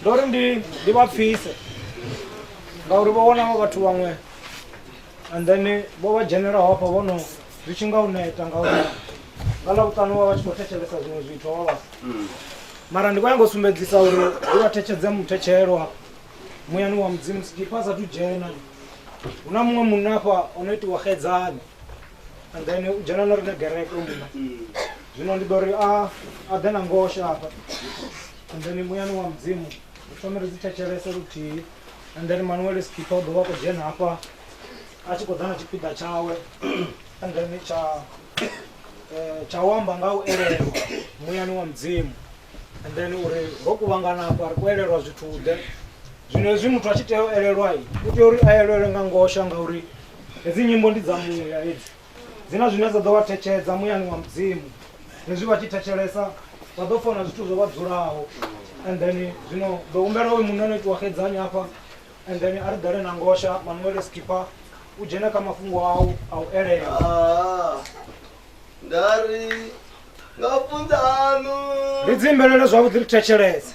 ndo ri ndi ndi vha pfise ngauri vho wana vha vhathu vhaṅwe and then vho vha dzhenelaho hafha vho no zwi tshi nga u neta ngauri nga ḽa vhuṱanu vha vha tshi khou thetshelesa zwiṅwe zwithu vha vha mara ndi khou ya ngo sumbedzisa uri ndi vha thetshedze muthetshelo hafha muyani wa mudzimu sikipa a sathu dzhena hu na muṅwe munna hafha o no itiwa xedzani and then u dzhena na riṋe gereke munna zwino ndi ḓo ri a a ḓe na ngosha hafha and then muyani wa mudzimu ri thome ri dzi thetshelese luthihi and then manuel skipha u dovha a khou dzhena hafha a tshi khou ḓa na tshipiḓa tshawe and then tsha eh, tsha u amba nga u elelwa muyani wa mudzimu and then uri ro kuvhangana hafha ri khou elelwa zwithu-ḓe zwino hezwi muthu a tshi tea u elelwa u tea uri a elelwe nga ngosha ngauri hedzi nyimbo ndi dza muya hedzi dzi na zwine dza ḓo vha thetshedza muyani wa mudzimu hezwi vha tshi thetshelesa vha ḓo fona zwithu zwo vha dzulaho and then zwino ḓo humbela oyu munna no itiwa xedzanyi hafha and then a ri ḓale na ngosha manuele skipper u dzhene kha mafhungo au a u elela Ah, nda ri nga funza aṋu ri dzimbelele zwavhuḓi ri thetshelese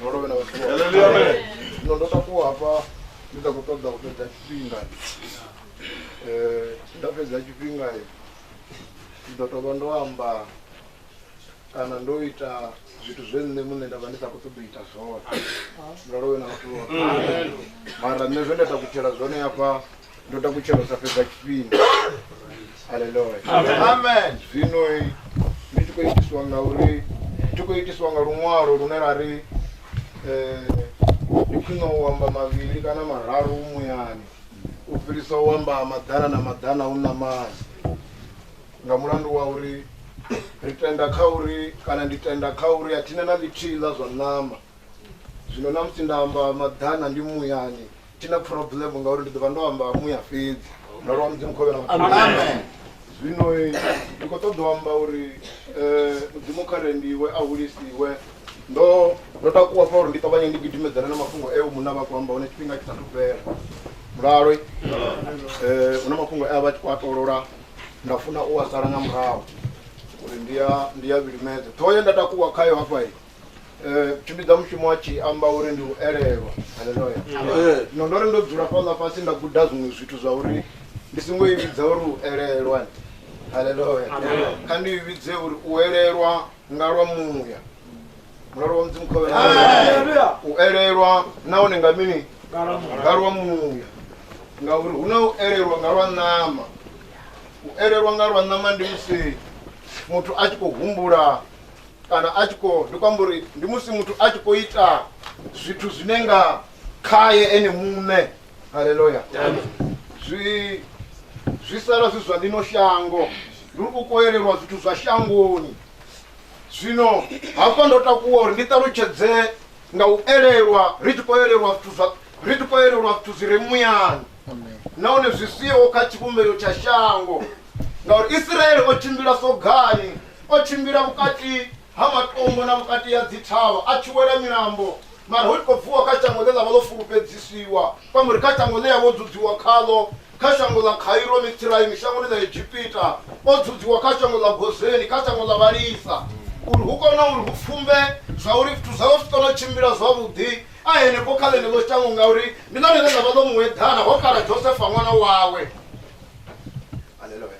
no lovhe na vhathu vhoṱhe. zwino ndo takuwa hafha ndi sa khou ṱoḓa u fhedza tshifhinga Eh, nda fhedza tshifhinga ndi ḓo tovha ndo amba kana ndo ita zwithu zwe nṋe muṋe nda vha ndi sa khou ṱoḓa u ita zwone ndo lovhe na vhathu vhoṱhe mara nṋe zwe nda takutshela zwone hafha ndo takutshela u sa fhedza tshifhinga haleluya amen zwino ndi tshi khou itiswa nga uri ndi khou itiswa nga luṅwalo lune ra ri eh, ndi khwine u amba mavhili kana mararu muyani u fhirisa u amba maḓana na maḓana u namani nga mulandu wa uri ri tenda kha uri kana ndi tenda kha uri a thina na ḽithihi ḽa zwa ṋama zwino na musi nda amba maḓana ndi muyani thi na problem ngauri ndi ḓo vha ndo amba muya fhedzi mulalo wa mudzimu khovhe na amen zwino ndi khou ṱoḓa u amba uri um mudzimu kha re ndiwe a hulisiwe ndo ndo takuwa fa uri ndi ṱavhanye ndi gidimedzana na mafhungo eo munna vha khou amba hone tshifhinga tshi sathu fhela mulalo um hu na mafhungo e a vha tshi khou a tolola nda funa u a sala nga murahu uri ndi a ndi a vhilimedze ṱhoho ye nda takuwa khayo hafha Eh, tshimbidza mushumo a tshi amba uri ndi u elelwa haleluya Amen. zwino ndo ri ndo dzula fhaḽa fhasi nda guda zwiṅwe zwithu zwa uri ndi songo i vhidza uri u elelwa haleluya kha ndi i vhidze uri u elelwa nga lwa muya mulalo wa mudzimu khovhe Hallelujah. u elelwa nahone nga mini nga lwa muya ngauri hu na u elelwa nga lwa ṋama u elelwa nga lwa ṋama ndi musi muthu a tshi khou humbula kana a tshi khou ndi khou amba uri ndi musi muthu a tshi khou ita zwithu zwine nga khaye ene muṋe haleluya zwi zwi sala zwi zwa ḽino shango ndi u koelelwa zwithu zwa shangoni zwino hafha ndo takuwa uri ndi ṱalutshedze nga u elelwa ri tshi khou elelwa zwithu zwa ri tshi khou elelwa zwithu zwi re muyani nahone zwi siho kha tshivhumbeo tsha shango ngauri isiraele o tshimbila sogani o tshimbila vhukati ha matombo na vhukati ha dzithavha a tshi wela milambo mara hu tshi khou bvuwa kha shango ḽe ḽa vha ḽo fulufhedzisiwa kwamuri kha shango ḽe ya vho dzudziwa khaḽo kha shango ḽa khairo mitsiraimi shangoni ḽa egipita o dzudziwa kha shango ḽa gozeni kha shango ḽa vhalisa uri hu kone uri hu pfumbe zwa uri zwithu zwawe zwi kone u tshimbila zwavhuḓi A henefho kha ḽeneḽo shango, ngauri ndi ḽone ḽe ḽa vha ḽo mu eḓana, ho kala Josefa ṅwana wawe. Haleluya.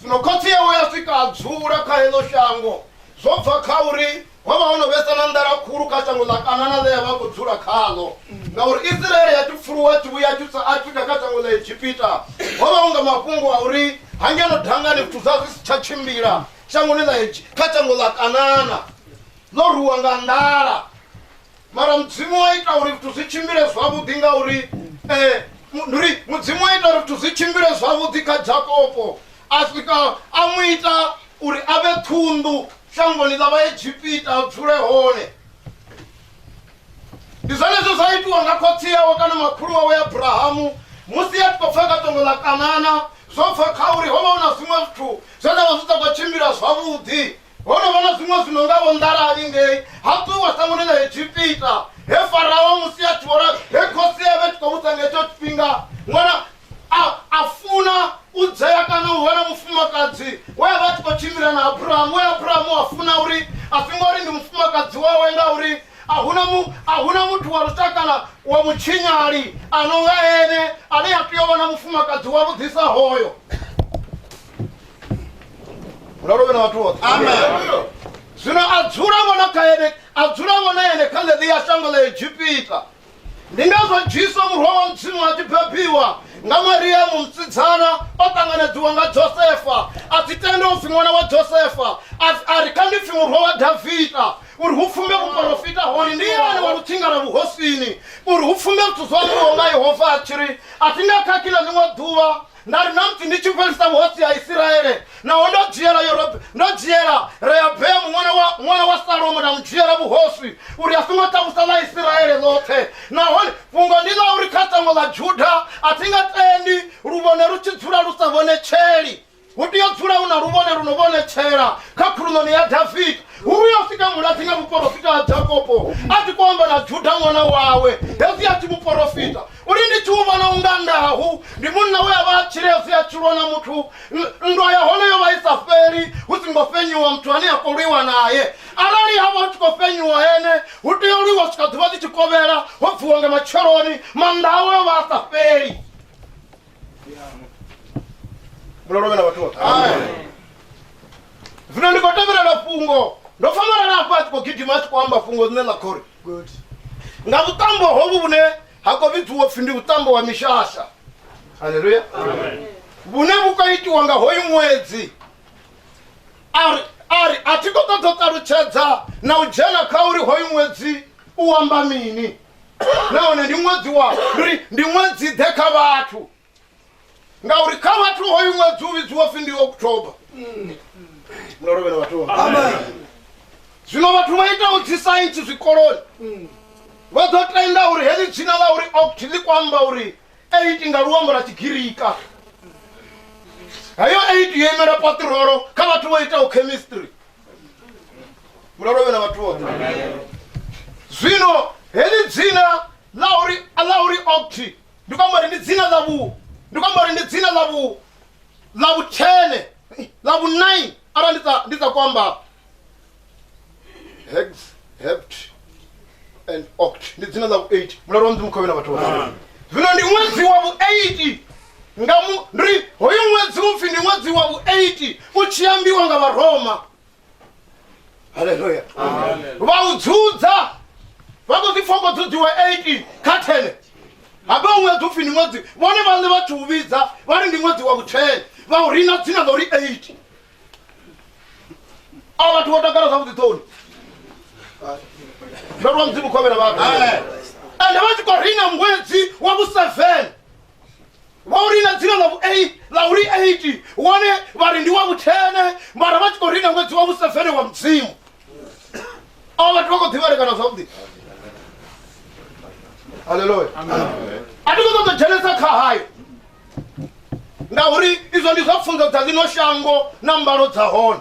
Zwino khotsi yawe ya swika a dzula kha heḽo shango, zwo bva kha uri ho vha ho no vhesa na nḓala khulu kha shango ḽa Kanana ḽe ya vha khou dzula khaḽo, ngauri Isiraele ya tshi pfuluwa a tshi vhuya a tshi tsa a tshi ḓa kha shango ḽa Egipita, ho vha hu nga mafhungo a uri ha ngeno dangani zwithu zwa zwi si tsha tshimbila shangoni ḽa kha shango ḽa Kanana. ḽo ruwa nga nḓala mara mudzimu wa ita uri zwithu zwi tshimbile zwavhuḓi ngauri um ndi uri mudzimu wa ita uri zwithu zwi tshimbile zwavhuḓi kha jakopo a swika a mu ita uri a vhe ṱhunḓu shangoni ḽa vhaegipita a dzule hone ndi zwenezwo zwa itiwa nga khotsi yawe kana makhulu wawe abrahamu musi a tshi khou pfha ka tongo ḽa kanana zwo pfha kha uri ho vha hu na zwiṅwe zwithu zwe zwa vha zwi sa khou tshimbila zwavhuḓi ho no vha na zwiṅwe zwino nga vho nḓalali ngei ha ṱuwa sangoni ḽa egipita he farao musi a tshi vhona he khosi ya vhe tshi khou vhusa nga hetsho tshifhinga ṅwana a a funa u dzhea kana u vha na mufumakadzi we a vha a tshi khou tshimbila na abrahamu we abrahamu a funa uri a si ngori ndi mufumakadzi wawe ngauri a huna mu a huna muthu wa lushakana wa mutshinyali a no nga ene ane a tea u vha na mufumakadzi wa vhuḓisa hoyo ralo vhe na vhathu vhoṱhe amen zwino a dzula vhona kha ene a dzula vhona ene kha ḽeḽiya shango ḽa egipita ndi ngazwo jesu murwa wa mudzimu a tshi bebiwa nga mariyamu musidzana o ṱanganedziwa nga josefa a si tende u pfi ṅwana wa josefa a ri kha ndi pfi murwa wa davida uri hu pfumbe vhuporofita hone ndi yane wa lutsinga lwa vhuhosini uri hu pfumbe zwithu zwa ambiwa nga yehova a tshi ri a thi nga khakhila ḽiṅwe ḓuvha nda ri na musi ndi tshi fhelisa vhuhosi ha isiraele naho ndo dzhiela Yorob- ndo dzhiela rehabeamu ṅwana wa ṅwana wa salomo nda mu dzhiela vhuhosi uri a songo takusa ḽa isiraele ḽoṱhe nahone fhungo ndi ḽa uri kha shango ḽa juda a thi nga tendi luvhone lu tshi dzula lu sa vhonetsheli hu tea u dzula hu na luvhone lu no vhonetshela kha khuluṋoni ya davida hu vhuya u sika muladzi nga muporofita ha jakopo a tshi khou amba na juda ṅwana wawe hezwi a tshi muporofita Uri ndi tshi u vhona unga Ndahu ndi munna we a vha a tshile a si a tshi lwa na muthu, nndwa ya hone yo vha i sa fheli hu si ngo fhenyiwa muthu ane a khou lwiwa nae. Arali ha vha hu tshi khou fhenyiwa ene, hu tea u lwiwa u swika ḓuvha ḽi tshi kovhela, ho bviwa nga matsheloni, maanḓa awe o vha a sa fheli. Mulalo u vhe na vhathu vhoṱhe. Zwino ndi khou tevhelela fhungo, ndo pfa malala afha a tshi khou gidima a tshi khou amba fhungo ḽine ḽa khou ri good nga vhuṱambo hovhu vhune ha khou vhidziwa upfhi ndi vhuṱambo wa mishasha halleluya vhune vhu khou itiwa nga hoyu ṅwedzi ari ari a thi khou ṱoḓa u ṱalutshedza na u dzhena kha uri hoyu ṅwedzi u amba mini nahone ndi ṅwedzi wa ri ndi ṅwedzi ḓe kha vhathu ngauri kha vhathu hoyu ṅwedzi u vhidziwa pfi ndi october mulolovhelo vhathu zwino vhathu vha itaho dzi saintsi zwikoloni vha ḓo tenda uri heḽi dzina ḽa uri oct ḽi kho amba uri eight nga luambo lwa tshigirika heyo eight yo imela patirolo kha vhathu vho itaho chemistry mulolovhela vhathu vhoṱhe zwino heḽi dzina ḽa uri ḽa uri oct ndi khou amba uri ndi dzina ḽa vhu ndi khou amba uri ndi dzina ḽa vhu ḽa vhuthene ḽa vhunaini arali ndi sa ndi sa ku amba hex hept and oct ndi dzina ḽa vhu 8 mulalo wa mudzimu khovhe na vhathu vha zwino ndi ṅwedzi wa vhu 8 nga mu ndi ri hoyu ṅwedzi upfi ndi ṅwedzi wa vhu 8 u tshi ambiwa nga vharoma haleluya vha u dzudza vha khou ḓi foko dzudziwa 18 kha 10 habe u ṅwedzi upfi ndi ṅwedzi vhone vhaṋe vha thi u vhidza vha ri ndi ṅwedzi wa vhu-10 vha u rina dzina ḽa uri 8 a vhathu vho takala zwavhuḓi ṱhoni ndo lwa mudzimu khovhela vhathu ende vha tshi khou rina ṅwedzi wa vhu-7 vha u rina dzina ḽa vhu-8 ḽa uri 8 wone vha ri ndi wa vhuthene mara vha tshi khou rina ṅwedzi wa vhusevene wa mudzimu avho vhathu vha khou ḓivhalekana zwavhuḓi halleluya a thi khou ṱoḓa dzhenesa kha hayo ngauri izwo ndi zwa pfunzo dza ḽino shango na mbalo dza hone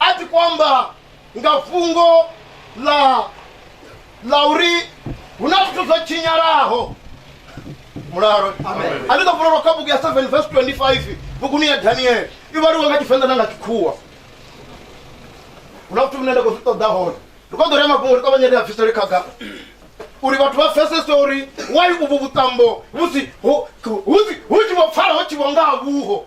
a ti kwamba nga fhungo ḽa ḽa uri hu na zwithu zwo tshinyalaho mulalo a ni ḓo vhulelwa kha bugu ya 7 vs 25 buguni ya daniele i vhaliwa nga tshivenḓa na nga tshikhuwa hu na zwithu vhune nda khou zwi ṱoḓa hone ri kho ḓo rea mafhungo ri ṱavhanye ri a bvisele khagala uri vhathu vha pfesese uri wai uvhu vhuṱambo husi hu tshi vho pfala ho tshivho nga ha vhuho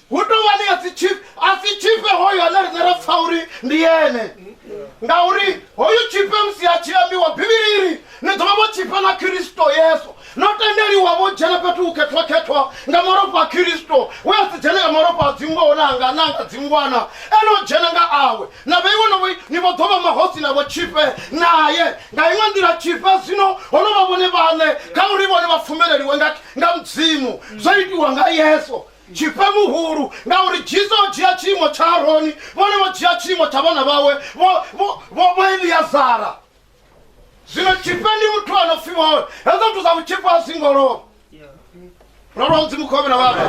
hu tou vha ḽia dzi tshifhe a si tshifhe hoyo ane riṋe ra pfa uri ndi ene ngauri hoyu tshifhe musi a tshi ambiwa bivhili iri ni ḓo vha vho tshifha na khiristo yesu no tendeliwa vho dzhena fhethu u khethwakhethwa nga malofha a khiristo we a si dzhene nga malofha a dzingoho na anga na anga dzingwana ene o dzhena nga awe na vheiwe no vhoi ni vho ḓo vha mahosi navho tshifhe naye nga iṅwe nḓila tshifhe zwino ho no vha vhone vhaṋe kha uri vhone vha pfumeleliwe nga nga mudzimu zwo itiwa nga yesu Tshifhe muhulu, ngauri Jesu o dzhia tshiimo tsha Aroni, vhone vho dzhia tshiimo tsha vhana vhawe vho, vho, vho, vho Eliazara. Zwino tshifhe ndi muthu a no pfi vhone, hezwo zwithu zwa vhutshifhe a zwi ngo lova. Ro lwa Mudzimu khovhe na vhana.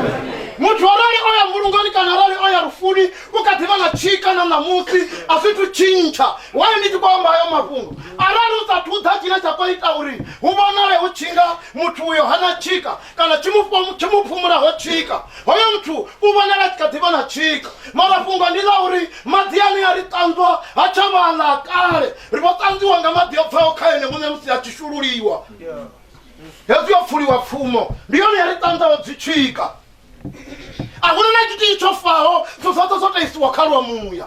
Muthu arali o ya mbulungoni kana arali o ya lufuni, u kha ḓi vha na tshika na ṋamusi, a zwi thu tshintsha. Wayo ndi tshi khou amba hayo mafhungo, arali u sa thu ḓa tshine tsha khou ita uri hu vhonale hu tshi nga muthu uyo ha na tshika, kana tsho mu phumulaho tshika hoyo muthu u vhonala a tshi kha ḓivha na tshika mara fhungo ndi ḽa uri maḓi ane a ri ṱanzwa ha tsha vhaḽa kale ri vho ṱanzwiwa nga maḓi o bvaho kha ene muṋe musi a tshi shululiwa hezwi yo pfuliwa pfumo ndi yone ya ri ṱanzaho dzi tshika a huna na tshithihi tsho faho zwo zwoṱhe zwo taisiwa kha lwa muya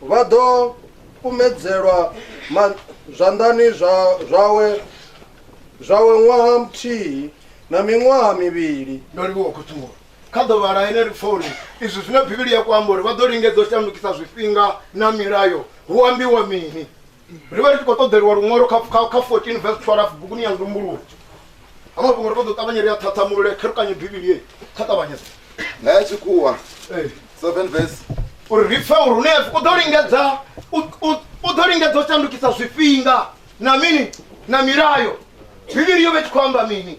Vha ḓo kumedzelwa ma, zwanḓani zwa, zwawe zwawe ṅwaha muthihi na miṅwaha mivhili. Ndo livhuwa khuthulo kha ḓuvha ḽa ene lipfoni. Izwi zwine Bivhili ya ku amba uri vha ḓo lingedza u shandukisa zwifhinga na milayo, hu ambiwa mini? ri vha ri tshi khou ṱoḓeliwa luṅwalo kha 14 vs 12 buguni ya ndumbuluwo ha mafhungo ri ṱoḓa u ṱavhanye ri a ṱhaṱhamulule kherukanye bivhili ye kha ṱavhanyedza nga ya tshikhuwa 7 vs uri ri pfe uri hune u ḓo lingedza u ḓo lingedza u shandukisa zwifhinga na mini na milayo bivhili yo vhe tshi khou amba mini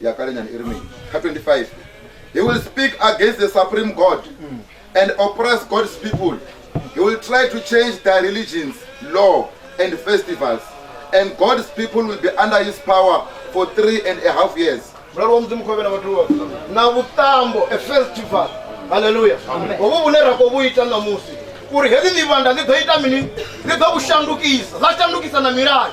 ya kale nyana i ri mini kha 25 he will speak against the supreme god mm. and oppress god's people he will try to change their religions law and festivals and god's people will be under his power for three and a half years mulalo wa mudzimu khovhe na vhathu na vhuṱambo a festival halleluya hovhu vhune ra khou vhu ita ṋamusi uri hedzi ḽivhanda ḽi ḓo ita mini ḽi ḓo vhu shandukisa ḽa shandukisa na milayo